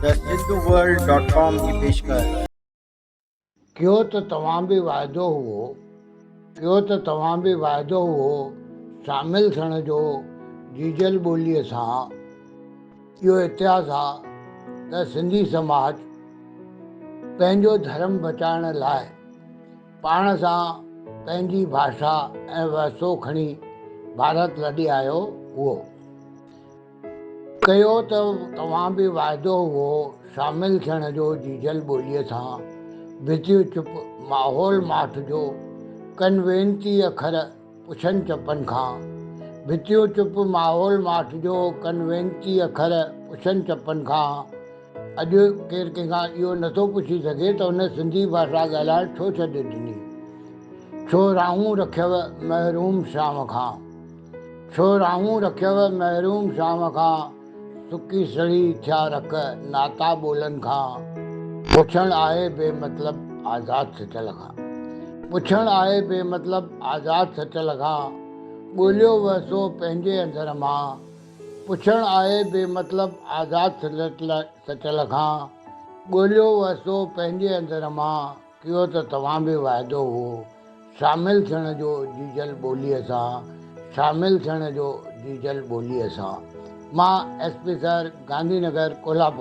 ته Sindhu world dot com جي پيشڪش. ڪيو ته توهان به واعدو هئو. ڪيو ته توهان به واعدو هئو شامل ٿيڻ جو جيجل ٻوليء سان. اهو اتهاس آ ته سنڌي سماج پنهنجو ڌرم بچائڻ لاء پاڻ سان پنهنجي ڀاشا ۽ وهسو کڻي ڀارت لڏي آيو هئو. ڪيو ته توهان به واعدو هئو شامل ٿيڻ جو جيجل ٻوليء سان ويجهي چپ ماحول ماٺ جو ڪن وينتي اکر پڇن چپن کان ويجهي چپ ماحول ماٺ جو ڪن وينتي اکر پڇن چپن کان اڄ ڪير ڪنهن کان اهو نه ٿو پڇي سگهي ته هن سنڌي ڀاشا ڳالهائڻ ڇو ڇڏي ڏني ڇو راهون رکيو محروم شام کان. ڇو راهون رکيو محروم شام کان، سڪي سڙي ٿيا رک ناتا ٻولن کان. پڇڻ آهي بي مطلب آزاد سچل کان. پڇڻ آهي بي مطلب آزاد سچل کان، ڳوليو وهسو پنهنجي اندر مان. پڇڻ آهي بي مطلب آزاد سچل کان، ڳوليو وهسو پنهنجي اندر مان. ڪيو ته توهان به وعدو هو شامل ٿيڻ جو جيجل ٻوليء سان شامل ٿيڻ جو جيجل ٻوليء سان مان S P sir Gandhi Nagar Kolhapur.